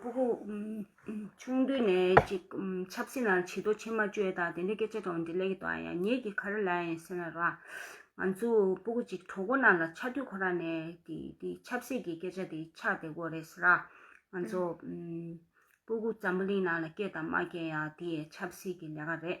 པོ་ཧུ། ཆུང་དུས་ནས་ཅིག་ཆབ་སྲིད་ནང་བྱི་དོ་ཕྱི་མ་བཅོས་དང་དེ་འདྲའི་སྐད་ཆ་དྲང་འདི་ལས་ཀྱི་དང་ཡ་ཉེས་ཀྱི་ཁར་ལ་ཡིན་ཟེར་ན་ར། ང་ཚོ་པོ་ཧུ་ཅིག་གྲོགས་པོ་རྣམས་ལ་ཆ་དུས་ཁོ་ར་ནས་དེ་ཆབ་སྲིད་ཀྱི་སྐད་ཆ་དེ་ཆགས་བསྡད་དགོས་རེད་ཟེར་ར། ང་ཚོ་པོ་ཧུ་འཛམ་བུ་གླིང་ནང་ལ་སྐྱེས་དང་མ་སྐྱེས་ཡང་དེ་ཡའི་ཆབ་སྲིད་ཀྱི་ལས་ཀ་རེད།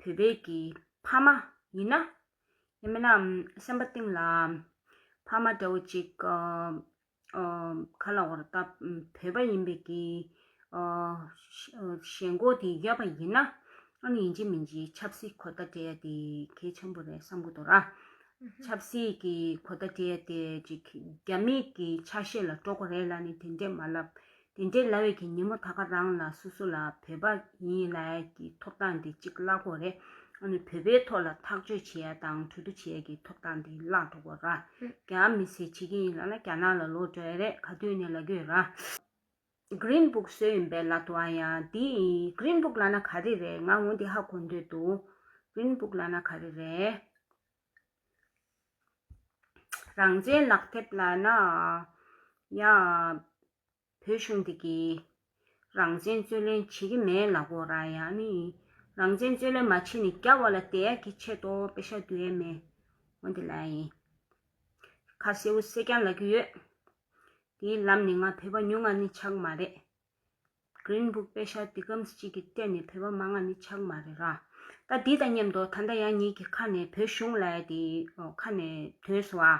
བོད་པའི་གི་ཕ་མ་ཡིན་ན། ཡིན་མིན་ནམ་སེམས་པ་གཏིང་ལ། ཕ་མ་འདྲ་བོ་ཅིག་ག་ལ་བར་ད་བོད་པ་ཡིན་པའི་གི། ཞེན་ལྐོག་དེ་ཡོད་པ་ཡིན་ན། ཨ་ནུ་ཡིན་གཅིག་མིན་གཅིག་ཆབ་སྲིད་གོ་བརྡ་སྤྲད་ཡ་དེ་གལ་ཆེན་པོ་རེད་བསམ་གོ་ཐོ་ར། ཆབ་སྲིད་ཀྱི་གོ་བརྡ་སྤྲད་ཡ་དེ་ཅིག་རྒྱ་མིག་གི་ཆ་ཤས་ལ་སྤྲོ་གོ་རེད་ལ་ནི་དེ་འདྲས་མ་ལབ། དེ་འདྲའི་ལ་བས་ཀྱི་ཉིན་མོ་ད་ག་རང་ལ་སོ་སོ་ལ་བོད་པ་ཡིན་ཡིན་ལ་ཡ་ཀྱི་ཐོབ་ཐང་དེ་གཅིག་བརླག་གོ་རེད་ཨ་ནི་བོད་པའི་ཐོག་ལ་ཐག་གཅོད་བྱེད་ཡ་དང་གྲོས་བསྡུ་བྱེད་ཡ་ཀྱི་ཐོབ་ཐང་དེ་བརླག་འགྲོ་གོ་ར་རྒྱ་མི་སེ་བྱེད་ཀྱི་ཡིན་ལ་ལ་རྒྱ་ནག་ལ་ལོག་འགྲོ་ཡ་རེད་ག་དུས་ནས་ལ་གོས་ར Green Book བཟོས་ཡིན་པའི་ལ་དུ་ཨ་ཡ་དེ Green Book ལ་ན་ག་རེ་རེད་ང་ངོ་དེ་ཧ་གོ་འདོད་འདུག Green Book ལ་ན་ག་རེ་རེད། རང་བཙན་ལག་དེབ་ལ་ན་ཡང་བོད་གཞུང་འདི་གིས་རང་བཙན་རྩོད་ལེན་བྱེད་ཀྱི་མེད་ལ་གོ་ར་ཡ་ནི་རང་བཙན་རྩོད་ལེན་མ་བྱེད་ནི་རྒྱ་བ་ལ་དད་ཡ་གི་ཆེད་དོ་པེ་ཤ་དུ་ཡེ་མེ་འོ་དེ་ལ་ཡིན་ཁ་སེ་བོ་སེ་ཀྱང་ལ་གི་ཡོད་དེའི་ལམ་ནི་ང་བོད་པ་ཉུང་ང་ནི་ཆག་མ་རེད། Green Book དཔེ་ཤར་འདི་སྐམ་ས་གཅིག་གི་སྟེང་ནས་བོད་པ་མ་ང་ནི་ཆགས་མ་རེད་ར། ད་འདི་དང་མཉམ་དུ་ད་ལྟ་ཡང་ཉིད་ཀྱི་ཁ་ནས་བོད་གཞུང་ལས་དེ་ཁ་ནས་དོན་སོ་ཨ།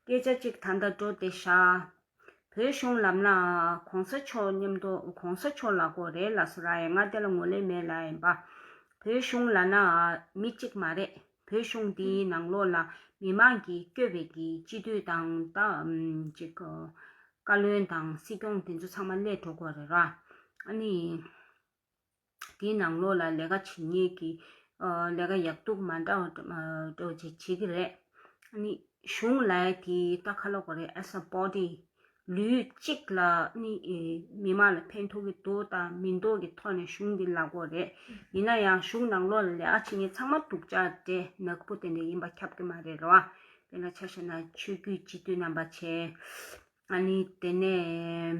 སྐད་ཆ་གཅིག་ད་ལྟ་འགྲོ་བདེ་ཤག། བོད་གཞུང་ལམ་ལ་གོང་ས་མཆོག་མཉམ་དུ་གོང་ས་མཆོག་ལ་གོ་རེ་ལ་སོ་ར་ཡ་ང་དེ་ལ་ངོ་ལེ་མེད་ལ་ཡིན་པ། བོད་གཞུང་ལ་ན་མི་གཅིག་མ་རེད། བོད་གཞུང་འདིའི་ནང་ལོགས་ལ་མི་མང་གིས་སྐྱོད་པའི་གི་སྤྱི་འཐུས་དང། བཀའ་བློན་དང་སྲིད་སྐྱོང་དེ་ཚོ་ཚང་མ་བསླད་འགྲོ་དགོས་རེད་ར། ཨ་ནི། དེའི་ནང་ལོགས་ལ་ལས་ཀ་བྱེད་ཉེས་ཀྱི། ལས་ཀ་ཡག་སྡུག་མ་འདྲ་བ་བྱེད་ཀྱི་རེད། ཨ་ནི། གཞུང་ལས་དེ་ལྟ་ཁ་ལོ་དགོས་རེད as a body། ལུས་གཅིག་ལ་ནི་མི་མང་ལ་ཕན་ཐོགས་ཀྱི་འདུག་དང་མི་འདུག་གི་ཐོག་ནས་གཞུང་འདི་ལག་འོག་རེད། ཡིན་ན་ཡང་གཞུང་ནང་ལོག་ལ་ལེགས་ཆེ་གཉིས་ཚང་མ་འདུག་ཅག་འདྲེ་ནག་པོ་དེ་འདྲ་ཡིན་པ་ཁྱབ་ཀྱི་མ་རེད་རོ། དེ་ལ་ཆ་ཤས་ན་ཆོས་བརྒྱུད་སྤྱི་འཐུས་རྣམ་པ་ཆེ། ཨ་ནི་དེ་ནས།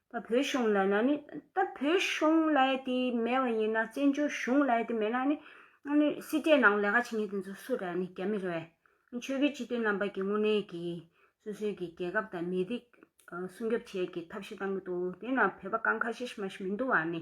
ད་བོད་གཞུང་ལ་ན་ནི། ད་བོད་གཞུང་ལ་ཡེ་དེ་མེད་བ་ཡིན་ན་བཙན་བྱོལ་གཞུང་ལ་ཡེ་དེ་མེད་ན་ནི། ཨ་ནི་སྲིད་གྲས་ནང་ལས་ཀ་བྱེད་མཁན་དེ་ཚོ་སུ་རེད་ཨ་ནི་རྒྱ་མི་རེད། ཆོས་བརྒྱུད་སྤྱི་མཐུན་རྣམ་པ་ཀྱི་དངོས་གནས་ཀྱི་སོ་སོའི་ཀྱི་རྒྱལ་ཁབ་དང་མི་རིགས་སྲུང་སྐྱོབ་བྱེད་ཀྱི་ཐབས་ཤེས་བཏང་གི་འདུག་དེ་ན་བོད་པ་ཀང་ཁ་ཤེས་ཤི་མ་ཤི་མི་འདུག་ཨ་ནི།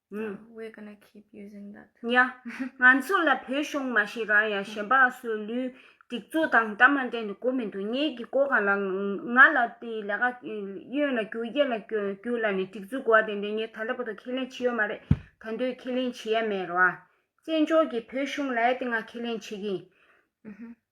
ཡ། ང་ཚོ་ལ་བོད་གཞུང་མ་ཤེས་རང་ཡང་གཞན་པའང་སོའི་ལུས། སྒྲིག་འཛུགས་དང་འདྲ་མ་འདྲ་ནི་གོ་མི་འདུག་ངེད་ཀྱི་ཀོ་ག་ལ་ང་ལ་དེ་ལས་ཀ་གཡོན་ལ་རྒྱུག་གཡས་ལ་རྒྱུག་ལ་ནི་སྒྲིག་འཛུགས་གོ་བ་དེ་འདྲས་ངས་ད་ལྟ་བར་དུ་ཁས་ལེན་བྱེད་ཡོད་མ་རེད་ད་འདོད་ཁས་ལེན་བྱེད་ཡ་མེད་རེད་བ། བཙན་བྱོལ་གྱི་བོད་གཞུང་ལ་ཡ་དེ་ང་ཁས་ལེན་བྱེད་ཀྱི་ཡིན།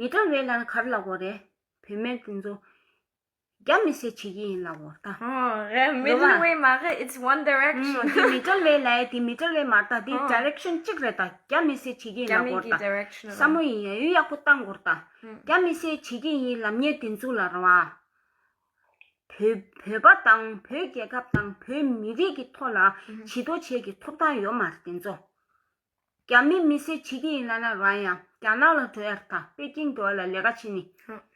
མི་དགྲ་བོའི་ལན་གར་ལ་བོ་རེ། བུད་མེད་འདི་ཚོ་རྒྱ་མི་སེ་བྱེད་ཀྱི་ཡིན་ལ་བོ་ད། རེད་མི་ལུས་བའི་མ་རེད་ཨིཏ་ཝན་དེ་རེག་ཤོན། འདི་མི་དགྲ་བོའི་ལན་འདི་མི་དགྲ་བོའི་མ་ད་འདི་དེ་རེག་ཤོན་གཅིག་རེད་ད་རྒྱ་མི་སེ་བྱེད་ཀྱི་ཡིན་ལ་བོ་ད་ས་མོ་ཡིན་ཡ་ཡུལ་ཡག་པོ་བཏང་གོ་ད་རྒྱ་མི་སེ་བྱེད་ཀྱི་ཡིན་ལམ་ཉེས་འདི་ཚོ་ལ་ར་བ། བོད་པ་དང་བོད་རྒྱལ་ཁབ་དང་བོད་མི་རིགས་ཀྱི་ཐོག་ལ་བྱི་དོ་བྱས་ཀྱི་ཐོབ་ཐང་ཡོད་མ་རེད་འདི་ཚོ་རྒྱ་མི་མི་སེར་ཇི་དེ་ཡིན་ན་ན་རང་ཡང་རྒྱ་ནག་ལ་འགྲོ་ཡག་དང་པེ་ཅིང་འགྲོ་བ་ལ་ལས་ཀ་བྱེད་ནི་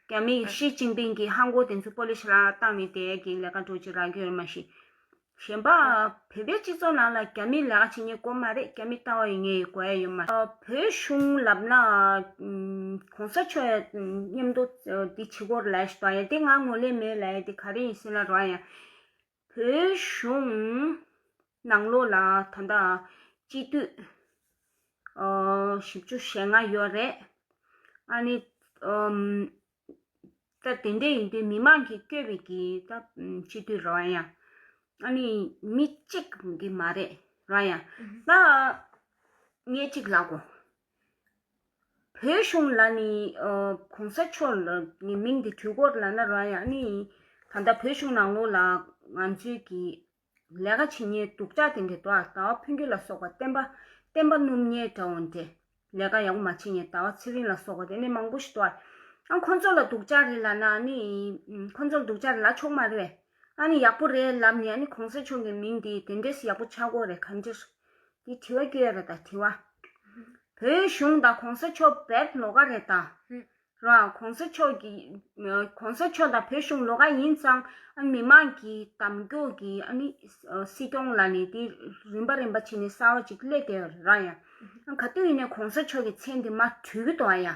རྒྱ་མི་ཞི་ཅིང་པིང་གི་ཧང་གོ་དེ་ཚོ་པོ་ལི་ཤ་ལ་བཏང་ནི་དེ་གི་ལས་ཀ་འགྲོ་ཅི་རག་གི་ཡོད་མ་ཤེས། གཞན་པ་བོད་པའི་སྤྱི་ཚོགས་ནང་ལ་རྒྱ་མི་ལས་ཀ་བྱེད་ནི་གོ་མ་རེད་རྒྱ་མི་ལྟ་བ་ཡི་ངའི་གོ་ཡ་ཡོད་མ། བོད་གཞུང་ལབ་ན་གོང་ས་མཆོག་ཡ་མཉམ་དུ་དེ་བྱེད་གོ་ར་ལས་ཤི་ད་ཡ་དེ་ང་ངོ་ལས་མེད་ལ་ཡ་དེ་ག་རེ་ཡིན་སེ་ན་རང་ཡང་བོད་གཞུང་ནང་ལོ་ལ་ད་ལྟ་སྤྱི་འཐུས་བཞི་བཅུ་ཞེ་ལྔ་ཡོད་རེད། ཨ་ནི། ད་དེ་འདྲ་ཡིན་དུས་མི་མང་གིས་བསྐྱོད་པའི་གི་ད་སྤྱི་འཐུས་ར་བ་ཡང་ཨ་ནི་མི་གཅིག་གི་མ་རེད་ར་བ་ཡང་ད་ངེད་གཅིག་ལགས་གོ། བོད་གཞུང་ལ་ནི་གོང་ས་མཆོག་ལ་ནི་མིང་དེ་དུས་འཁོར་ལ་ན་རོ་ཡང་ནི་ད་ལྟ་བོད་གཞུང་ནང་ལོགས་ལ་ང་ཚོས་ཀྱི་ལས་ཀ་བྱེད་ཉེས་སྡུག་ཅག་དེ་འདྲེ་དོ་ཨ་ཟླ་བ་ཕུན་རྒྱུད་ལ་སོགས་པ་བསྟན་པ་བསྟན་པ་སྣུམ་ཉལ་འདྲ་བོ་འདྲེ་ལས་ཀ་ཡག་པོ་མ་བྱེད་ཉེས་ཟླ་བ་ཚེ་རིང་ལ་སོགས་པ་དེ་ནས་མང་པོ་ཞིག་དོ་ཨ་ཁོང་ཚོ་ལ་སྡུག་ཅག་རེད་ལ་ན་ནི་ཁོང་ཚོ་ལ་སྡུག་ཅག་རེད་ལ་ཆོག་མ་རེད་བས། ཨ་ནི་ཡག་པོ་རེད་ལབ་ནས་ཨ་ནི་གོང་ས་མཆོག་གི་མིང་འདི་དེ་འདྲས་ཡག་པོ་ཆགས་དགོས་རེད་ག་འདྲས། འདི་དྲི་བ་བསྐྱོད་རེད་ད་དྲི་བ། བོད་གཞུང་དང་གོང་ས་མཆོག་བེད་ལོ་ག་རེད་ད། རང་གོང་ས་མཆོག་གི། གོང་ས་མཆོག་དང་བོད་གཞུང་ལོ་ག་ཡིན་ཙང་ཨ་ནི་མི་མང་གི་དམ་སྐྱོང་གི་ཨ་ནི་སྲིད་སྐྱོང་ལ་ནི་འདི་རིམ་པ་རིམ་པ་བྱེད་ནས་གསར་བ་ཅིག་སླེབས་དེ་ར་ཡ། ག་དུས་ནས་གོང་ས་མཆོག་གི་མཚན་འདི་མ་གྲོས་གི་འདུག་ཨ་ཡ།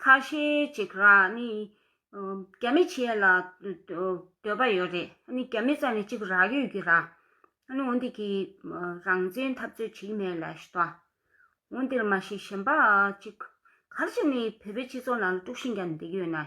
ཁ་ཤས་ཅིག་ར་ནི་རྒྱ་མི་བྱེད་ལ་འདོད་པ་ཡོད་རེད་ཨ་ནི་རྒྱ་མི་རྩ་ནས་ཅིག་རག་ཡོད་ཀྱི་ར་ཨ་ནི་འོན་འདི་གི་རང་བཙན་འཐབ་རྩོད་བྱེད་ཀྱི་མེད་ལ་ཞེས་དང། འོན་འདིར་མ་ཤེས་གཞན་པ་ཅིག་གར་བྱེད་ནི་བོད་པའི་སྤྱི་ཚོགས་ནང་ལ་དཀྲུགས་ཤིང་རྒྱག་ནས་བསྡད་ཀྱི་ཡོད་ན།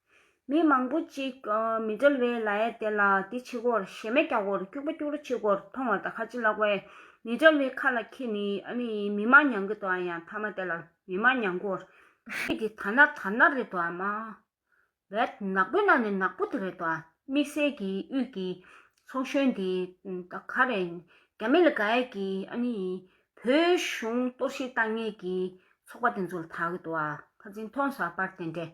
མི་མང་པོ་གཅིག་མི་འབྲལ་བའི་ལ་ཡ་དེ་ལ་དེ་ཕྱི་སྒོར་གཞས་མེད་རྒྱ་སྒོར་སྐྱུག་པ་སྐྱུག་རོ་ཕྱི་སྒོར་མཐོང་བ་དང་ཁ་ཕྱི་བརླག་པའི་མི་འབྲལ་བའི་ཁ་ལ་ཁྱེད་ནི་ཨ་ནི་མི་མ་ཉང་གི་དོ་ཨ་ཡང་མཐའ་མ་དེ་ལ་མི་མ་ཉང་གོ་ཁྱེད་ཀྱི་ཐ་ན་ཐ་ན་རེད་དོ་ཨ་མ་བད་ནག་པོའི་ནང་ནས་ནག་པོ་དེ་རེད་དོ་ཨ་དམིགས་བསལ་གྱི་དབུས་ཀྱི་ཚོགས་གཞོན་དེ་ད་ག་རེད་རྒྱ་མི་ལ་ག་ཡ་གི་ཨ་ནི་བོད་གཞུང་གཏོར་བཤིག་བཏང་ངེས་ཀྱི་ཚོགས་པ་དེ་ཚོ་ལ་ད་གི་དོ་ཨ་ཁ་ཚིག་མཐོང་ས་པར་དེ་འདྲས་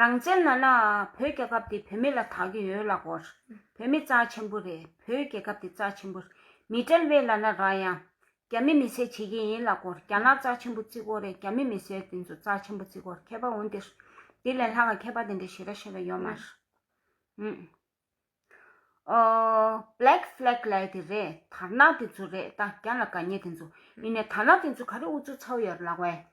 རང་བཙན་ན་ན་བོད་རྒྱལ་ཁབ་དེ་བོད་མི་ལ་ད་གི་ཡོད་ལགས་བོར་བོད་མི་རྩ་ཆེན་པོ་རེད་བོད་རྒྱལ་ཁབ་དེ་རྩ་ཆེན་པོ་རེད་མི་དྲལ་བས་ལ་ན་ར་ཡང་རྒྱ་མི་མི་སེར་བྱེད་ཀྱི་ཡིན་ལགས་བོར་རྒྱ་ནག་རྩ་ཆེན་པོ་བརྩི་གོ་རེད་རྒྱ་མི་མི་སེར་དེ་ཚོ་རྩ་ཆེན་པོ་བརྩི་གོ་མཁས་པ་འོན་ཏེ་དེ་ལས་ལྷག་གི་མཁས་པ་དེ་འདྲ་ཞེ་ར་ཞེ་ར་ཡོད་མ་རེད་ཨུ་ཨོ Black Flag ལས་དེ་རེད་དར་ནག་དེ་ཚོ་རེད་ད་རྒྱ་ལ་དགའ་ཉེ་དེ་ཚོ་ཡིན་ནས་དར་ནག་དེ་ཚོ་ག་རེ་ཨུ་ཚུགས་ཚ་བོ་ཡོད་ལགས་བས།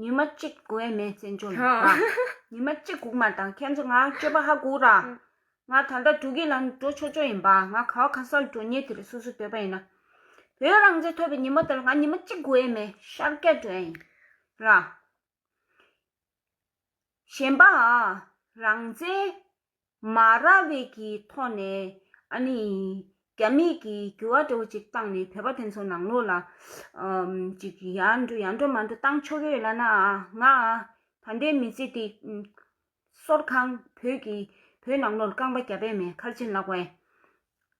ཉི་མ་གཅིག་དགུ་བས་མེའི་རྩེད་འཇོ་ལ་ཉི་མ་གཅིག་དགུ་མ་དང་ཁྱེད་ཚོ་ང་སྐྱོད་པ་ཧ་གོ་ར། ང་ད་ལྟ་འགྲོ་གི་ལམ་དུ་འགྲོ་ཆོག་ཆོག་ཡིན་པ་ང་ག་བ་ག་སར་འགྲོ་ཉེ་དེ་རེད་སོ་སོས་འདོད་པ་ཡིན་ན། བོད་རང་བཙན་ཐོབ་པའི་ཉི་མ་དེ་ལ་ང་ཉི་མ་གཅིག་དགུ་བས་མེ་ཤར་སྐད་འགྲོ་ཡ་ཡིན་ར། གཞན་པ། རང་བཙན། མ་ར་བའི་གི་ཐོག་ནས་ཨ་ནི་རྒྱ་མིས་གི་འགྱུ་བ་འདྲ་བོ་ཅིག་བཏང་ནས་བོད་པ་དེ་ཚོ་ནང་ལོག་ལ་ཅིག་ཡ་འགྲོ་ཡ་འགྲོ་མ་འགྲོ་བཏང་ཆོག་གི་ཡོད་ལ་ན་ང་ད་ལྟའི་མི་ཚེ་འདི་སོར་གང་བོད་ཀྱི་བོད་ནང་ལོག་ལ་རྐང་པ་རྒྱབ་པའི་མེད་ཁར་ཕྱིན་ལགས་བས།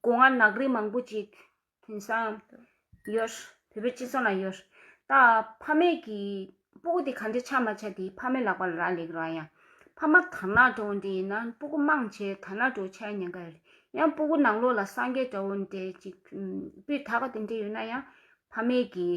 སྒོ་ང་ནགས་རི་མང་པོ་ཅིག་དེང་སང་ཡོད། བོད་པའི་སྤྱི་ཚོགས་ན་ཡོད། ད་ཕ་མེས་ཀྱི་སྤུ་གུ་དེ་ག་འདྲའི་ཆ་མ་ཆ་དེ་ཕ་མའི་ལག་པ་ལ་རག་ལས་ཀྱི་ར་ཡང། ཕ་མ་དར་ནག་འདྲ་བོ་འདྲའི་ཡིན་ན་སྤུ་གུ་དམངས་ཆེ་དར་ནག་འདྲ་བོ་ཆ་ཡང་ཉན་ག་ཡོད་རེད། ཡང་སྤུ་གུ་ནང་ལོགས་ལ་སངས་རྒྱས་འདྲ་བོ་འདྲའི་ཅིག་སྤུས་དག་པ་དེ་འདྲ་ཡོད་ན་ཡང་ཕ་མེས་ཀྱི།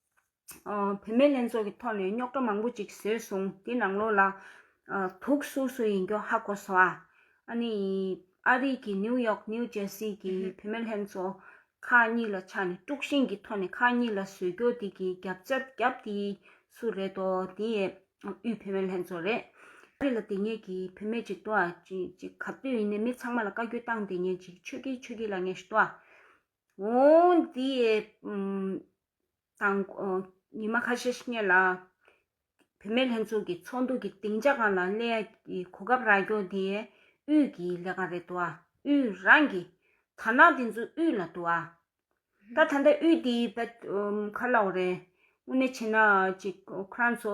བུད་མེད་ལྷན་ཚོགས་ཀྱི་ཐོག་ནས་རྙོག་དྲ་མང་པོ་ཅིག་བཟོས་སོང་དེ་ནང་ལོགས་ལ་དུག་སུར་སུར་ཡིན་རྒྱུ་ཧ་གོ་སོང་ཨ་ནི་ཨ་རིག་གི་ནིའུ་ཡོག་ནིའུ་ཇེ་སི་གི་བུད་མེད་ལྷན་ཚོགས་ཁག་གཉིས་ལ་ཆགས་ནས་དཀྲུག་ཤིང་གི་ཐོག་ནས་ཁག་གཉིས་ལ་ཟོལ་རྒྱོ་དེ་གི་རྒྱབ་རྩ་བརྒྱབ་དེ་སུ་རེད་དོ་དེ་ཨ་དབུས་བུད་མེད་ལྷན་ཚོགས་རེད་ཨ་རི་ལ་དེ་ཉིད་ཀྱི་བུད་མེད་ཅིག་འདུག་ཨ་ཅིག་ག་དུས་ཡིན་ནའི་མི་ཚང་མ་ལ་བཀའ་རྒྱུ་བཏང་དེ་ཉིད་ཅིག་ཆོས་ཀྱི་ཆོས་ཀྱི་ལ་ངེས་ཤིག་འདུག་ཨ་འདི་ཡི་དང་ཉི་མ་ཁ་ཤས་སྙེད་ལ། བུད་མེད་ལྷན་ཚོགས་ཀྱི་ཚོགས་འདུ་གྱི་སྡིངས་ཆ་གང་ལ་གླེང་ཡ་གི་གོ་སྐབས་རག་རྒྱུ་དེ་དབུས་ཀྱི་ལས་ཀ་རེད་འདུག་དབུས་རང་གི་དར་ནག་དེ་ཚོ་དབུས་ལ་འདུག་ད་ད་ལྟ་དབུས་དེའི་ཁ་ལོག་རེད་དངོས་གནས་བྱས་ན་ཅིག་ཁོ་རང་ཚོ་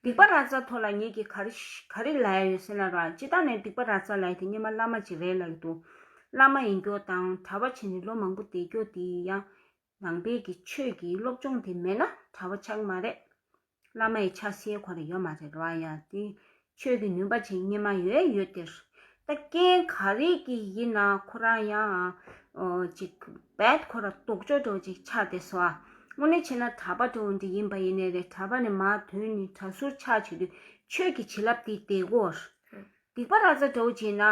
སྡིག་པ་ར་རྩ་ཐོ་ལ་ཉིད་ཀྱིས་ག་རེ་ལས་ཡོད་ཟེར་ན་རང་སྤྱི་དག་ནས་སྡིག་པ་ར་རྩ་ལས་དེ་སྙེ་མ་བླ་མ་ཅིག་རེད་ལ་ཡོད་འདུག་བླ་མ་ཡིན་སྐྱོ་དང་གྲྭ་བ་བྱས་ནས་ལོ་མང་པོ་བསྡད་སྐྱོ་དེ་ཡིན་ཡང་ནང་པའི་གི་ཆོས་ཀྱི་སློབ་སྦྱོང་དེ་མེད་ན་གྲྭ་བ་ཆགས་ཀྱི་མ་རེད་བླ་མ་ཡི་ཆ་སའི་གོ་ལ་ཡོད་མ་རེད་ར་ཡ་དེ་ཆོས་ཀྱི་ནུས་པ་ཆེན་སྙེ་མ་ཡོད་ཡོད་དེ། ད་རྐྱེན་ག་རེ་གི་ཡིན་ན་ཁོ་རང་ཡང་ཅིག་བད་ཁོ་ར་དོག་ཅོག་ཅོག་ཅིག་ཆགས་དེ་སོ་ཨ། དངོས་གནས་བྱས་ན་གྲ་པ་དོ་འདི་ཡིན་པ་ཡིན་ནས་རེད་གྲ་པ་ནི་མ་དོན་ནི་གྲ་ཟུར་ཆགས་བྱེད་དུས་ཆོས་ཀྱི་བྱིན་རླབས་དེ་དེ་གོ། སྡིག་པ་ར་ཙ་དོག་བྱས་ན།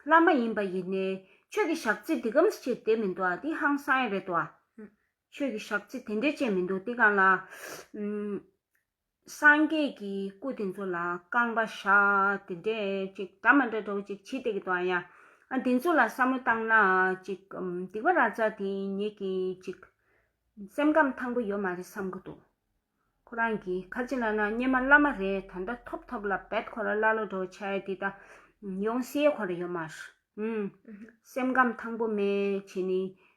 བླ་མ་ཡིན་པ་ཡིན་ནས་ཆོས་ཀྱི་ཞག་རྩི་འདི་གམ་ས་ཆེ་དེ་མི་འདུག་ཨ་འདི་ཧང་སངས་ཡེ་རེད་དོ་ཨ། ཆོས་ཀྱི་ཞག་རྩི་དེ་འདྲའི་ཆེ་མི་འདུག་དེ་གང་ལ། སངས་རྒྱས་ཀྱི་སྐུ་དེ་ཚོ་ལ་རྐང་པ་བཞག་དེ་འདྲས་ཅིག་འདྲ་མ་འདྲ་འདྲ་བོ་ཅིག་བྱེད་བསྡད་ཀྱི་འདུག་ཨ་ཡ། ཨ་དེ་ཚོ་ལ་བསམ་བློ་བཏང་ན་ཅིག་སྡིག་པ་ར་ཙ་དེ་ཉེས་ཀྱི་ཅིག་སེམས་ཁམས་ཐང་པོ་ཡོད་མ་རེད་བསམ་གྱི་འདུག་ཁོ་རང་གི་ཁ་ཅིག་ལ་ན་སྙེ་མ་བླ་མ་རེ་ད་འདྲ་ཐོབ་ཐོབ་ལ་བད་ཁོ་ར་བླ་ལོ་འདྲ་བོ་ཆ་ཡ་དེ་ད་ཡོང་སའི་ཁོ་ར་ཡོད་མ་རེད། སེམས་ཁམས་ཐང་པོ་མེད་བྱས་ནས་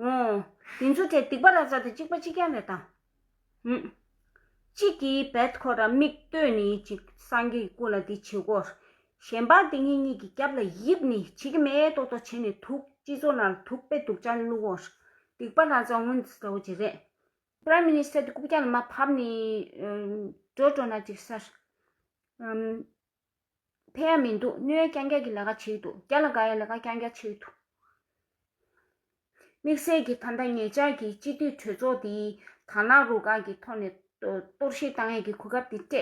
ངོ། དེ་ཚོ་དེ་སྡིག་པ་ར་ཙ་དེ་གཅིག་པ་གཅིག་ཀྱང་མེད་དང། ངོ། གཅིག་གིས་བད་ཁོ་ར་མིག་ལྟོས་ནི་ཅིག་སངས་རྒྱས་ཀྱི་སྐུ་ལ་དེ་བྱེད་གོ། གཞན་པ་དེ་གཉིས་གཉིས་ཀྱི་རྒྱབ་ལ་ཡིབ་ནི་བྱེད་ཀྱི་མེད་ཏོག་ཏོག་བྱེད་ནི་དུག་སྤྱི་ཚོགས་ནང་ལ་དུག་དཔེ་དུག་ཅག་བླུག་གོ། སྡིག་པ་ར་ཙ་དངོས་འདི་འདྲ་བོ་ཅིག་རེད། Prime Minister དེ་རྐུབ་བཀྱག་ལ་མ་བབས་ནི། འགྲོ་འགྲོ་ན་ཅིག་སར། ཕན་ཡང་མི་འདུག་སྣོད་ཡ་རྐྱང་རྐྱང་གི་ལས་ཀ་བྱེད་དུ་རྒྱ་ལ་དགའ་ཡ་ལས་ཀ་རྐྱང་རྐྱང་བྱེད་དུ། དམིགས་བསལ་གྱིས་ད་ལྟ་ངེད་ཅག་གིས་སྤྱི་འཐུས་གྲོས་ཚོགས་འདིའི་དག་སྣང་རུ་ཁག་གི་ཐོག་ནས་གཏོར་བཤིག་བཏང་ཡས་ཀྱི་གོ་སྐབས་འདི་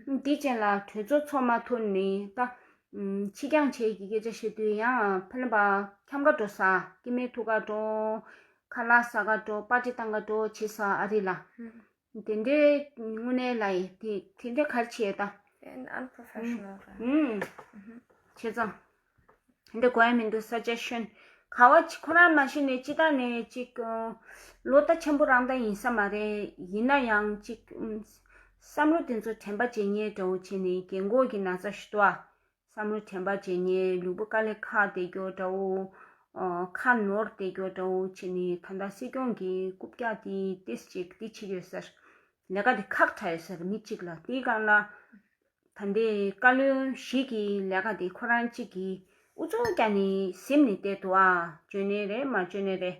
སྤྲད། འདི་ཅན་ལ་གྲོས་ཚོགས་ཚོགས་མ་ཐུབ་ནི་ད། ཕྱི་འགྱངས་བྱས་ཀྱི་སྐད་ཆ་བཤད་དུས་ཡང་ཕལ་ལམ་པ་ཁྱམས་ཁ་དྲོ་ཟ་སྐྱེ་མའི་ཐུགས་ཁ་དྲོ། ཁ་ལག་ཟ་ཁ་དྲོ་པ་ཏྲི་བཏང་ཁ་དྲོ་བྱེད་ས་ཨ་རི་ལ། དེ་འདྲའི་དངོས་གནས་ལ་ཡིན་དེ་དེ་འདྲའི་གར་བྱེད་ད། དེ unprofessional རེད། ཧུམ། བྱས་ཙང། དེ་འདྲ་གོ་ཡ་མི་འདུག suggestion། ག་བ་ཅི་ཁོ་རང་མ་ཤེས་ནས་ཅི་ད་ནས་ཅིག་གི། ལོ་ལྟ་ཆེན་པོ་རང་ད་ཡིན་ས་མ་རེད་ཡིན་ན་ཡང་ཅིག། བསམ་བློ་དེ་ཚོ་དྲན་པ་བྱེད་ཉེས་འདྲ་བོ་བྱས་ནས་རྒན་གོག་གི་ན་ཚ་ཞུ་དོ་ཨ། བསམ་བློ་དྲན་པ་བྱས་ནས་ལུས་པོ་དཀའ་ལས་ཁག་བདེ་སྐྱོར་འདྲ་བོ། ཁ་ནོར་བདེ་སྐྱོར་འདྲ་བོ་བྱས་ནས་ད་ལྟ་སྲིད་སྐྱོང་གི་རྐུབ་བཀྱག་དེའི་ཏེས་གཅིག་དེ་ཕྱིར་ཡོད་སར། ལས་ཀ་དེ་ཁག་དྲ་ཡོད་སར་མི་གཅིག་ལ་དེའི་སྒང་ལ། ད་ལྟའི་བཀའ་བློན་ཞིག་གི་ལས་ཀ་དེ་ཁོ་རང་གཅིག་གིས་ཨུ་ཚུགས་བཀྱག་ནས་གཟིམ་ནས་བསྡད་འདུག་ཨ། བཅོས་ནས་རེད་མ་བཅོས་ནས་རེད།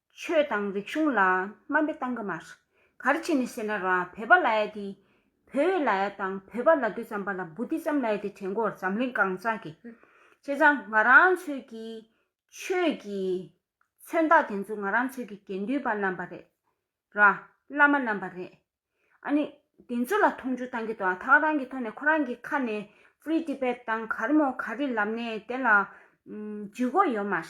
ཆོས་དང་རིག་གཞུང་ལ་སྨན་པའི་སྟངས་ཀ་མ་རེད། གར་བྱས་ནས་ཟེར་ན་ར་བོད་པ་ལ་ཡ་དེ། བོད་བའི་ལ་ཡ་དང་བོད་པ་ལ་དུས་ཙམ་པ་ལ་འབུ་དེ་ཙམ་ལ་ཡ་དེ་དྲན་གོར་འཛམ་གླིང་གང་ས་གི། བྱས་ཙང་ང་རང་ཚོས་ཀྱི་ཆོས་ཀྱི་མཚོན་རྟགས་དེ་ཚོ་ང་རང་ཚོས་ཀྱི་དགེ་འདུན་པ་རྣམ་པ་རེད། ར་བླ་མ་རྣམ་པ་རེད། ཨ་ནི་དེ་ཚོ་ལ་མཐོང་ཆུང་བཏང་གི་འདུག་ད་རང་གི་ཐོག་ནས་ཁོ་རང་གི་ཁ་ནས Free Tibet དང་གར་མོ་གར་རི་ལབ་ནས་དེ་ལ་འཇུས་གོ་ཡོད་མ་རེད།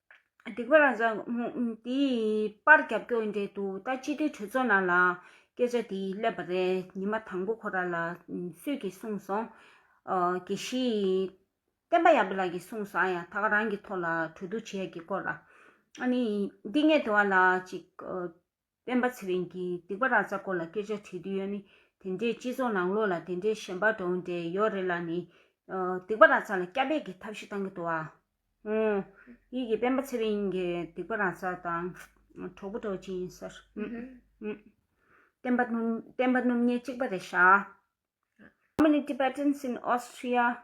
སྡིག་པ་རང་བཟང། དེ་ཡི་པར་རྒྱབ་སྐྱོར་འབྲེལ་གཏུག་ལྟ་སྤྱི་འཐུས་གྲོས་ཚོགས་ནང་ལའང་སྐད་ཆ་དེ་སླེབས་པ་རེད་ཉི་མ་དང་པོ་ཁོ་ར་ལ་སུས་ཀྱིས་གསུངས་སོང། དགེ་བཤེས། བསྟན་པ་ཡག་པོ་ལགས་ཀྱིས་གསུངས་སོང་ཨ་ཡ་ད་ག་རང་གི་ཐོག་ལ་གྲོས་བསྡུར་བྱེད་ཡ་གི་སྐོར་ར། ཨ་ནི་འདི་ངས་དེ་བ་ལ་ཅིག། སྤེན་པ་ཚེ་རིང་གིས་སྡིག་པ་ར་ཙ་སྐོར་ལ་སྐད་ཆ་དྲིས་དུས་ཡོད་ནི་དེ་འདྲའི་སྤྱི་ཚོགས་ནང་ལོག་ལ་དེ་འདྲའི་ཞེན་པ་འདྲོངས་འདྲའི་ཡོད་རེད་ལ་ནི། སྡིག་པ་ར་ཙ་ལ་སྐྱ་འབེད་ཀྱི་ཐབས་ཤིག་བཏང་གི་འདུག་བ། ཧུང། ཡིད་ཀྱིས་སྤེན་པ་ཚེ་རིང་གིས་སྡིག་པ་ར་ཙ་དང། གྲོགས་པོ་གྲོགས་ཅན་ཡིན་སར། ཧུང། སྤེན་པ་སྤེན་པ་སྣུམ་སྙལ་གཅིག་པ་རེད་ཤག། How many Tibetans in Austria?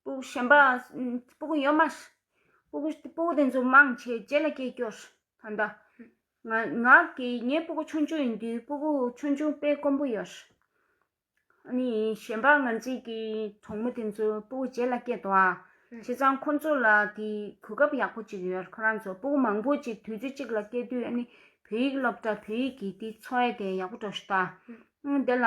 སྤུག་ཞན་པ། སྤུག་ཡོད་མ། སྤུག་དེ་ཚོ་མང་ཆེ་ལྕེ་ལ་སྐྱེས་སྐྱོ། ད་ལྟ། ང་གི་ངའི་སྤུག་ཆུང་ཆུང་ཡིན་དུས་སྤུག་ཆུང་ཆུང་དཔེ་དཀོན་པོ་ཡོད། ཨཱ་ནི་གཞན་པ་ང་ཚོས་ཀྱི་གྲོགས་མོ་དེ་ཚོ་སྤུག་ལྕེ་ལ་སྐྱེས་འདུག་ཨ། བྱས་ཙང་ཁོ་ཚོ་ལ་དེ་གོ་སྐབས་ཡག་པོ་ཅིག་ཡོད་ཁོ་རང་ཚོ་སྤུག་མང་པོ་ཅིག་དུས་ཚོད་གཅིག་ལ་སྐྱེས་དུས་ཨཱ་ནི་བོད་ཡིག་སློབ་གྲྭ་བོད་ཡིག་གི་དེ་འཚོ་བ་དེ་ཡག་པོ་འགྲོ་ཞིག་ད། དེ་ལ།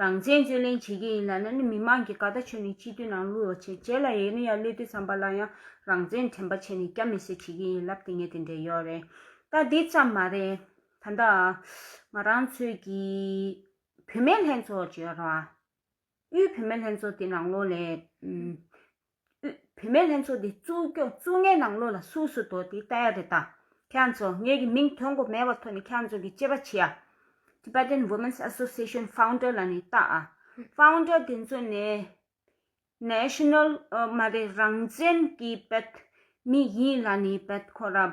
རང་བཙན་རྩོད་ལེན་བྱེད་མཁན་ཡིན་ལ་ན་ནི་མི་མང་གི་ཀ་ད་ཆོས་ནས་སྤྱི་འཐུས་ནང་བླུག་རོགས་བྱེད་བྱས་ལ་ཡས་ནུ་ཡ་བློས་བཏུས་ཙམ་པ་ལ་ཡང་རང་བཙན་དྲན་པ་བྱས་ནས་སྐྱ་མི་སེར་བྱེད་མཁན་ཡིན་ལབ་དེ་ངས་དེ་འདྲས་ཡོད་རེད་ད་དེ་ཙམ་མ་རེད་ད་ད་ང་རང་ཚོས་ཀྱི་བུད་མེད་ལྷན་ཚོགས་ཀྱི་ར་དབུས་བུད་མེད་ལྷན་ཚོགས་དེ་ནང་ལོགས་ལས། དབུས་བུད་མེད་ལྷན་ཚོགས་འདི་བཙུགས་སྐྱོང་བཙུགས་ངའི་ནང་ལོ་ལ་སུ་སུ་དོ་དེ་ལྟ་ཡ་རེད་ད་ཁྱེད་ཚོ་ངེད་ཀྱི་མིང་ཐོན་གོ་མེད་བ་ཐོ་ནི་ཁྱེད་ཚོ་གི་གཅེས་པ་ཆེ་ཡ Tibetan Women's Association Founder ལ་ནི་ལྟ་ཨ Founder དེ་ཚོ་ནི National མ་རེད་རང་བཙན་གྱི་བེད་མི་ཡིན་ལ་ནི་བེད་ཁོ་ར།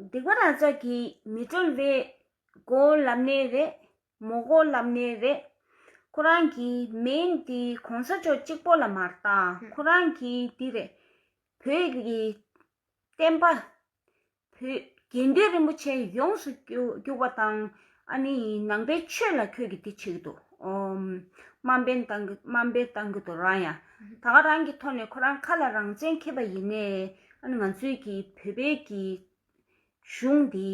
སྡིག་པ་རང་ཅག་གིས་མི་གྲོལ་བས། གོ་ལབ་ནས་རེད་མོ་གོ་ལབ་ནས་རེད། ཁོ་རང་གི་མིང་འདི་གོང་ས་མཆོག་གཅིག་པོ་ལ་མ་བཏགས་ཁོ་རང་གི་འདི་རེད། བོད་ཀྱི་བསྟན་པ་བུ། དགེ་འདུན་རིན་པོ་ཆེ་ཡོངས་སུ་གྱུར་པ་དང། ནང་པའི་ཆོས་ལ་ཁྱོད་ཀྱིས་དེ་བྱེད་ཀྱི་འདུག་དམའ་འབེན་བཏང་གི་འདུག་རང་ཡང་ད་ག་རང་གི་ཐོག་ནས་ཁོ་རང་ཁ་ལ་རང་བཙན་ཁེབས་པ་ཡིན་ནས་ང་ཚོའི་གི་བོད་པའི་གི་གཞུང་འདི་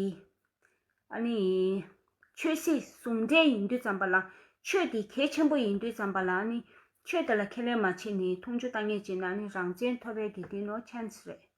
ཆོས་སྲིད་ཟུང་འབྲེལ་ཡིན་དུས་ཙམ་པ་ལ་ཆོས་དེ་གལ་ཆེན་པོ་ཡིན་དུས་ཙམ་པ་ལ་ཆོས་དེ་ལ་ཁས་ལེན་མ་བྱེད་ནས་འཐུང་ཆུ་བཏང་ངེས་བྱེད་ན་རང་བཙན་ཐོབ་པའི་དེ་དེ་ནོ chance རེད།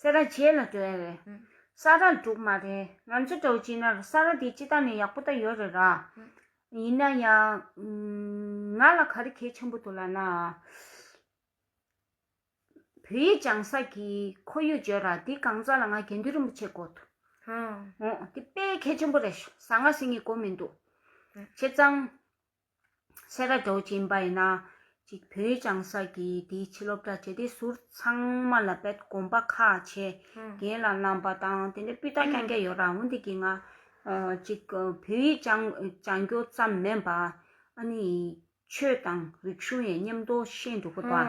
སེ་ར་བྱེད་ལ་བྲོས་རེད། ས་ར་འགྲུག་མ་རེད་ང་ཚོ་འགྲོ་བྱེད་ན་རུ་ས་ར་དེ་སྤྱི་བཏང་ནས་ཡག་པོ་ད་ཡོད་རེད་ར། ཡིན་ན་ཡང། ང་ལ་ག་རེ་གལ་ཆེན་པོ་འདུག་ལ་ན། བོད་ཡིག་སྦྱང་ས་ཀྱི་ཁོར་ཡུག་བརྗོད་ར་དེ་གང་ཙམ་ལ་ང་དགེ་འདུན་རིན་པོ་ཆེ་དགོ་ཐུ། འོང། དེ་དཔེ་གལ་ཆེན་པོ་རེད་ཞུ་ཟ་ང་ཟིན་གྱི་གོ་མི་འདུག། བྱས་ཙང། སེ་ར་རྡོ་རྗེ་འབའ་ཡིན་ན་ཅིག་བོད་བྱང་ས་ཀྱིས་དེའི་ཕྱི་སློབ་གྲྭ་བྱས་ཏེ་ཟུར་ཚང་མ་ལ་དཔེ་དགོངས་པ་ཁ་ཆེ་རྒན་ལ་བསླམས་པ་དང་དེ་འདྲའི་སྤུས་དག་རྐྱང་རྐྱང་ཡོད་ར་འོན་ཏེ་གྱི་ང་ཅིག་བོད་ཡིག་སྦྱང་རྒྱུ་ཙམ་མིན་པ་ཨ་ནི་ཡིག་ཆོས་དང་རིག་གཞུང་ཡའི་ཉམས་རྟོགས་ཤེས་འགྲོ་དགོས་པ།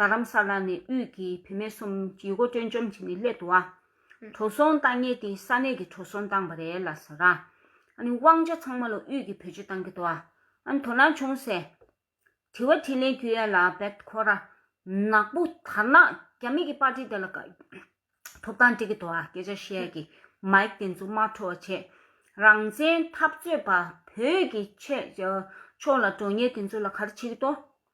རྡ་རམ་ས་ལ་ནས་དབུས་ཀྱི་བུད་མེད་གསུམ་ཇུས་འགོ་སྤྲོད་འཇོམས་བྱས་ནས་སླེ་དུ་བ། བྲོ་སོང་བཏང་ངེས་ཏེ་ས་གནས་ཀྱི་བྲོ་སོང་བཏང་བ་རེད་ལ་ཟེར། དབང་ཆ་ཚང་མ་ལ་དབུས་ཀྱི་བུ་ཇུས་བཏང་གི་དུ་བ། དོ་སྣང་བྱུང་ཟེར། དྲི་བ་དྲིས་ལན་བརྒྱུད་ཡ་ལ་བེད་ཁོ་ར། ནག་པོ་དར་ནག་རྒྱ་མི་གི་པར་ཏི་དེ་ལ་ཀ། ཐོབ་ཐང་སྤྲི་གི་དུ་བ་སྐད་ཆ་བཤད་ཀྱི་མཱིག་དེ་ཚོ་མ་འཕྲོ་བ་བྱས། རང་བཙན་འཐབ་རྩོད་པ་བོད་ཀྱི་ཕྱེད་ཕྱོགས་ལ་འགྲོ་ངེས་དེ་ཚོ་ལ་ག་རེ་བྱེད་ཀྱི་དོ།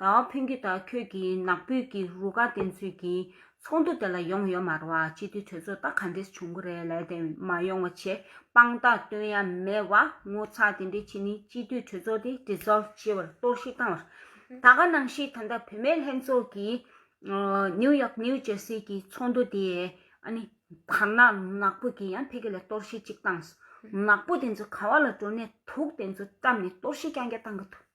ད་བ་ཕོན་གྱིས་ད་ཁྱོད་ཀྱི་ནག་པོས་ཀྱི་རུ་ཁག་བསྟེན་ཚུལ་གྱི་ཚོགས་འདུ་དེ་ལ་ཡོང་ཡོད་མ་རེད་བ་སྤྱི་འཐུས་གྲོས་ཚོགས་ད་ག་འདྲས་བྱུང་གི་རེད་ལས་དེ་མ་ཡོང་བ་ཆེ་དཔང་རྟགས་སྟོན་ཡ་མེད་བ་ངོ་ཚ་དེ་འདྲས་བྱེད་ནི་སྤྱི་འཐུས་གྲོས་ཚོགས་དེ dissolve བྱེད་བར་གཏོར་བཤིག་བཏང་བར་ད་ག་ནང་བཞིན་ད་ལྟ་བུད་མེད་ལྷན་ཚོགས་ཀྱི New York New Jersey གྱི་ཚོགས་འདུ་དེ་བར་ན་ནག་པོ་གྱིས་ཡང་ཕེ་གི་ལ་གཏོར་བཤིག་ཅིག་བཏང་སོང་ནག་པོ་དེ་ཚོ་ག་བ་ལ་འགྲོ་ནས་དུག་དེ་ཚོ་བཀྲམ་ནས་གཏོར་བཤིག་རྐྱང་རྐྱང་བཏང་གི་འདུག།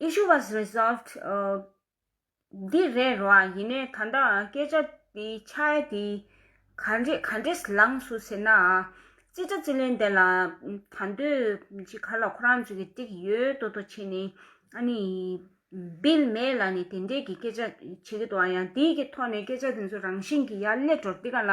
Issue was resolved འདི་རེད་རོ་ཨ་ཡིན་ནའི་ད་ལྟའང་སྐད་ཆ་དེ་ཆ་ཡ་དེ་ག་འདྲེས་ལངས་སུ་ཟེར་ནའང་ཅི་ཆ་ཅི་ལན་དེ་ལ་ད་འདོད་ཅིག་ག་ལ་ཁོ་རང་ཚོ་གི་སྟེགས་ཡོད་དོ་དོ་བྱེད་ནས་ཨ་ནི Bill May ལ་ནི་དེ་འདྲས་ཀྱི་སྐད་ཆ་བྱེད་ཀྱི་འདུག་ཨ་ཡང་དེའི་ཀྱི་ཐོག་ནས་སྐད་ཆ་དེ་ཚོ་རང་བཞིན་གྱི་ཡ་ལེ་འགྲོ་འདི་ག་ལ།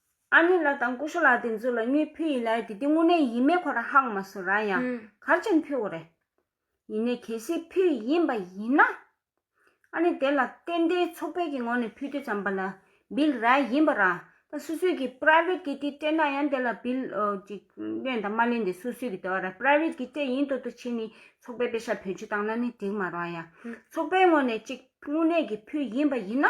ཨ་ནེ་ལགས་དང་ཀུ་ཤུ་ལགས་དེ་ཚོ་ལ་སྨྱོས་ཕུལ་ཡིན་ལ་དེ་དེ་དངོས་གནས་ཡིན་མིན་ཁོ་རང་ཧང་མ་སུ་ར་ཡང་གར་ཅན་ཕུལ་བ་རེད། ཡིན་ནས་གལ་སྲིད་ཕུལ་ཡིན་པ་ཡིན་ན། ཨ་ནེ་དེ་ལ་ཏན་ཏན་ཚོགས་པས་ཀྱི་ངོ་ནས་ཕུལ་རྒྱུ་ཙམ་པ་ལ་འབིལ་ར་ཡིན་པ་རང་ད་སུ་སུས་ཀྱི Private གི་དེ་སྤྲད་ན་ཡང་དེ་ལ་འབིལ་ཅིག་གླན་དང་མ་གླན་དེ་སུ་སུས་ཀྱི་དེ་བ་ར Private གི་སྤྲད་ཡིན་དོ་དོ་བྱེད་ནི་ཚོགས་པས་པེ་ཤ་བོད་ཆུ་བཏང་ན་ནི་འགྲིག་མ་རང་ཡང་ཚོགས་པའི་ངོ་ནས་ཅིག་དངོས་གནས་ཀྱི་ཕུལ་ཡིན་པ་ཡིན་ན་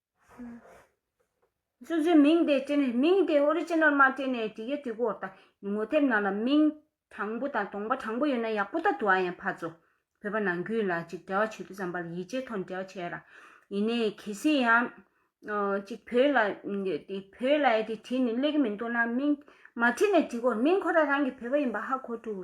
སོ་སོའི་མིང་དེ་སྤྲད་ནས་མིང་དེ་ཨོ་རི་ཅི་ནལ་མ་སྤྲད་ནས་དྲི་ག་དྲི་གོ་དང་ངོ་དེབ་ནང་ལ་མིང་དྲང་པོ་དང་དོང་པ་དྲང་པོ་ཡོད་ན་ཡག་པོ་ད་དུ་ཨ་ཡང་ཕ་ཚོ་བོད་པ་ནང་ཁུལ་ལ་ཅིག་འབྲེལ་བ་བྱེད་དུ་བརྩམས་པ་ལ་ཡིད་ཆེས་ཐོག་འབྲེལ་བ་བྱས་ཡོད་ར་ཡིན་ནས་གལ་སྲིད་ཡང་ཅིག་བོད་ལ་བོད་ལ་ཡི་དེ་བྲིས་ནས་གླེགས་མི་འདུག་ན་མིང་མ་བྲིས་ནས་དྲི་གོ་མིང་ཁོ་ར་རང་གི་བོད་པ་ཡིན་པ་ཧ་གོ་ཐུག།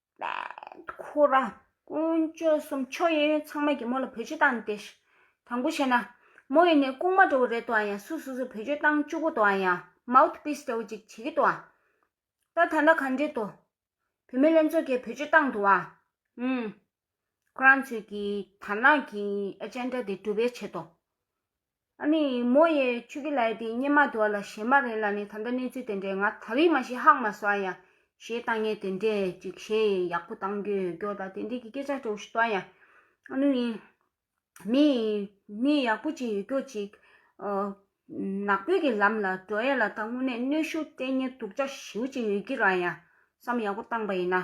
ཁོ་ར། ཀུན་སྤྱོད་གསུམ་ཆོས་གཡས་གཡོན་ཚང་མས་ཀྱི་མོ་ལ་བུ་བཅུ་བཏང་སྟེ། དང་པོ་བྱས་ན། མོ་ཡིན་ནས་ལྐུགས་མ་འགྲོ་བ་རེད་དོ་ཡང་སུ་སུ་སུ་བུ་བཅུ་བཏང་བཅུ་གོ་དོ་ཡང་མའུཐ་པིས་འདྲ་བོ་ཅིག་བྱེད་ཀྱི་དོ། ད་ད་ལྟ་ག་འདྲི་དོ། བུད་མེད་ལྷན་ཚོགས་ཀྱིས་བུ་བཅུ་བཏང་དོ་ཨ། ཨུམ། ཁོ་རང་ཚོས་ཀྱི་དར་ནག་གི་ཨེ་ཅན་ཏྲ་དེ་གྲུབ་པའི་ཆེད་དོ། ཨ་ནི་མོ་ཡས་ཆུ་ཀི་ལའི་དེ་སྙེ་མ་དོ་ལ་ཞེ་མ་རེད་ལ་ནི་ད་འདྲ་གནས་ཚུལ་དེ་འདྲས་ང་ད་རིས་མ་ཤེས་ཧག་མ་ཟ་ཡ། ཞེས་བཏང་ངས་དེ་འདྲས་ཅིག་བཤད་ཡས་ཡག་པོ་བཏང་རྒྱུ་ཡོད་རྒྱོ་ད་དེ་འདྲས་ཀི་སྐད་ཆ་དྲོ་ཞིག་བཏང་ཡ། ཨ་ནུ་ཡིན། མི་ཡིན་མི་ཡག་པོ་ཅིག་ཡོད་རྒྱོ་ཅིག། ནག་པོའི་གི་ལམ་ལ་འགྲོ་ཡས་ལ་ད་དངོས་གནས་གནོད་ཤུགས་སྤྲད་ཉེན་སྡུག་ཅག་ཞིའུ་ཅིག་ཡོད་ཀི་ར་ཡ། བསམ་ཡག་པོ་བཏང་པ་ཡིན་ན།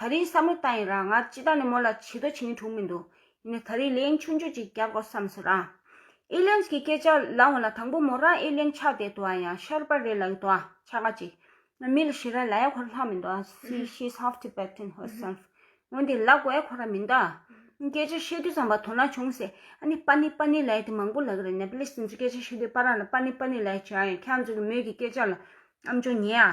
ད་རེའི་བསམ་བློ་ལྟ་ཡིན་རང་སྔར་ཅི་ལྟར་ནས་མོ་ལ་བྱི་དོ་བྱིངས་འཁྲུག་མི་འདུག་ཡིན་ནའི་ད་རེའི་ལན་ཆུང་ཆུང་ཅིག་རྒྱབ་དགོས་བསམ་སོང་རང། ཨི་ལན་གྱི་སྐད་ཆ་ལ་འོ་ན་དང་པོ་མོ་རང་ཨི་ལན་ཆགས་བསྡད་འདུག་ཨ་ཡང་ཤར་པ་རེད་ལ་ཡོད་འདུག་ཨ་ཆགས་ཀ་ཅིག་ང་མི་ལ་ཤི་ར་ལ་ཡ་ཁོ་ར་ལྷག་མི་འདུག་ཨ་སི་ཤི་ཨིས་ཧཱབ Tibetan Herself འོན་ཏེ་ལ་གོ་ཨེ་ཁོ་ར་མི་འདུག་ཨ་སྐད་ཆ་བཤད་དུས་བསམ་པ་དོ་སྣང་བྱུང་ཟེར་ཨ་ནི་པ་ནི་པ་ནི་ལ་ཡ་དེ་མང་པོ་ལ་གི་རེད་ནེ་པ་ལིས་དེ་ཚོ་སྐད་ཆ་བཤད་དུས་པ་རང་ལ་པ་ནི་པ་ནི་ལ་ཡ་བྱེད་ཨ་ཡང་ཁྱེད་ཚོ་གི་མོས་ཀྱི་སྐད་ཆ་ལ་ཨམ་ཅོ་ཉེ་ཨ།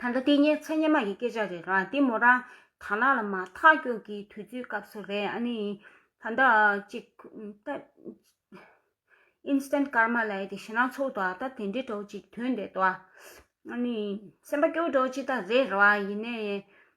ད་ལྟ་འདི་ཉེ་ཚེ་སྙེ་མ་ཡི་སྐད་ཆ་རེད་ར་འདི་མོ་རང་དར་ནག་ལ་མ་ཐག་སྐྱོད་ཀྱི་དུས་ཚོད་སྐབས་སུ་རེད་ཨ་ནི་ད་ལྟ་ཅིག Instant Karma ལ་ཡི་དེ་ཞེ་ན་ཚོགས་འདུག་ཨ་ད་དེ་འདྲའི་གྲོགས་ཅིག་དོན་འདི་དོ་ཨ་ནི་སེམས་པ་སྐྱོ་གྲོགས་ཅིག་ད་རེད་ར་ཡིན་ནའི་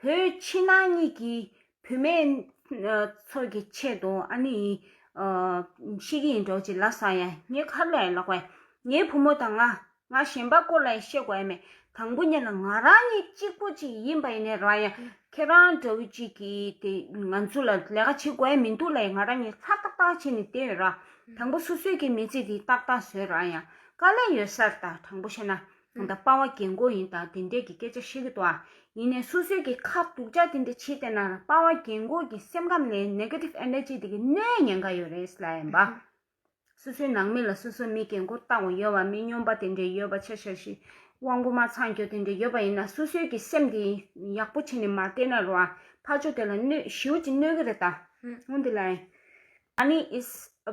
བུ་ཕྱི་ནང་གཉིས་ཀྱི་བུད་མེད་ཚོགས་ཀྱི་ཆེད་དུ་ཨ་ནེ་ཡིས་ཤེས་ཀྱི་ཡིན་འགྲོ་ཅི་ལ་སང་ཡང་ངའི་ཁ་ལས་ལོག་པའི་ངའི་བུ་མོ་དང་ང་ང་གཞན་པ་སྐོར་ལ་བཤད་དགོས་མེད་དང་པོ་གཉིས་ལ་ང་རང་ཉིད་གཅིག་པོ་གཅིག་ཡིན་པ་ཡིན་ནའི་རང་ཡང་ཁྱེད་རང་འདྲ་བོ་གཅིག་གིས་དེ་ང་ཚོ་ལ་ལས་ཀ་བྱེད་དགོས་མི་འདུག་ལས་ང་རང་ཉིད་ཚར་ཏག་ཏག་བྱས་ནས་བསྡད་ཡོད་ར་དང་པོ་སོ་སོའི་གི་མི་ཚེ་དེ་ཏག་ཏག་བཟོས་ར་ཡང་དཀའ་ལས་ཡོད་སར་ད་དྲང་པོ་བཤད་ན་ད་སྤ་བ་རྒན་མགོ་ཡིན་ད་དེ་འདྲས་ཀྱི་སྐད་ཆ་བཤད་གི་འདུག་ཨ། ཡིན་ནའི་སོ་སོའི་གི་ཁ་སྡུག་ཅག་དེ་འདྲས་བྱེད་བསྡད་ན་ར་སྤ་བ་རྒན་མགོ་གི་སེམས་ཁམས་ལས Negative Energy དེ་གི་གནས་ཉེན་ཁ་ཡོད་རེད་ལ་ཨེ་འབའ། སོ་སོའི་ནང་མི་ལ་སོ་སོ་མི་རྒན་མགོ་བཏང་བ་ཡོད་བ་མི་སྨྱོན་པ་དེ་འདྲས་ཡོད་བ་ཆ་ཤ་ཤི་དབང་པོ་མ་ཚང་སྐྱོ་དེ་འདྲས་ཡོད་བ་ཡིན་ན་སོ་སོའི་གི་སེམས་དེ་ཡག་པོ་བྱེད་ནས་མ་བསྡད་ན་ར་ཕ་ཆོ་དེ་ལ་གནོད་ཞིའུ་ཅི་གནོད་གི་རེད་ད། ཨོ་འདི་ལ་ཨེ། ཨ་ནི is a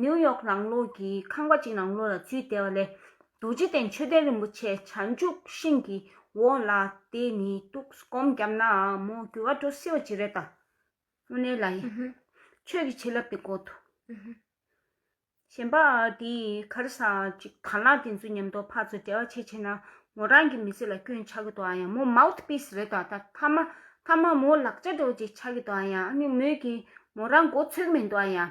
ནིའུ་ཡོག་རང་ལོགས་ཀྱི་ཁང་པ་གཅིག་ནང་ལོགས་ལ་འཛུལ་བསྡད་པ་ལས་རྡོ་རྗེ་གདན་ཆོས་ལྡན་རིན་པོ་ཆེ་བྱང་ཆུབ་ཤིང་གི་འོག་ལ་དེ་ནི་ཐུགས་སྒོམ་བརྒྱབ་ནའང་མོ་འགྱུར་བ་འགྲོ་སྲིད་པ་ཅི་རེད་ད། དངོས་གནས་ལ་ཡིན། ཆོས་ཀྱི་བྱིན་རླབས་དེ་གོ་ཐུབ། གཞན་པ་དེ་གར་ས་གཅིག་དར་ནག་དེ་ཚོ་ཉམས་རྟོགས་ཕར་ཚུར་བྲལ་བ་ཆེ་ཆེ་ན་མོ་རང་གི་མི་ཚེ་ལ་སྐྱོན་ཆགས་ཀྱི་འདུག་ཨ་ཡ་མོ་མའུཐ་པིས་རེད་ད་ད་མ་མོ་ལག་ཆ་འགྲོ་བ་ཅིག་ཆགས་ཀྱི་འདུག་ཨ་ཡ་ཨ་ནི་མོས་ཀྱིས་མོ་རང་མགོ་ཚོས་གི་མི་འདུག་ཨ་ཡ།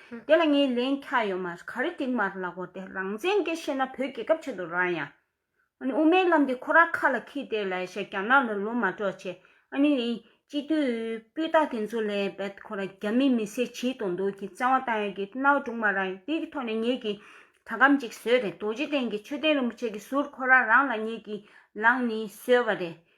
དེ་ལ་ངའི་ལན་ཁྱག་ཡོད་མ་རེད་ག་རེ་ཏིག་མར་ལག་གོ་དེ་རང་བཙན་གྱི་བཤད་ན་བོད་རྒྱལ་ཁབ་ཆེད་དུ་རང་ཡང་ཨ་ནི་དབུ་མའི་ལམ་དེ་ཁོ་རང་ཁ་ལ་ཁྱི་དེ་ལ་ཞེས་རྒྱ་ནག་ལ་ལོ་མ་གྲོགས་བྱས་ཨ་ནི་ཡིན་སྤྱི་འཐུས་སྤུས་དག་དེ་ཚོ་ལས་བེད་ཁོ་རང་རྒྱ་མི་མི་སེར་བྱིས་དོ་འདུག་གི་བཙན་བ་བཏང་ཡོད་གི་གནའ་བོ་དྲུག་མ་རང་ཡིན་དེ་གི་ཐོག་ནས་ངེད་ཀྱི་དྲ་སྒམ་ཅིག་བཟོས་རེད་རྡོ་རྗེ་གདན་གྱི་མཆོད་རྟེན་རིན་པོ་ཆེ་གི་ཟུར་ཁོ་རང་རང་ལ་ངེད་ཀྱི་ལངས་ནི་བཟོས་བ་རེད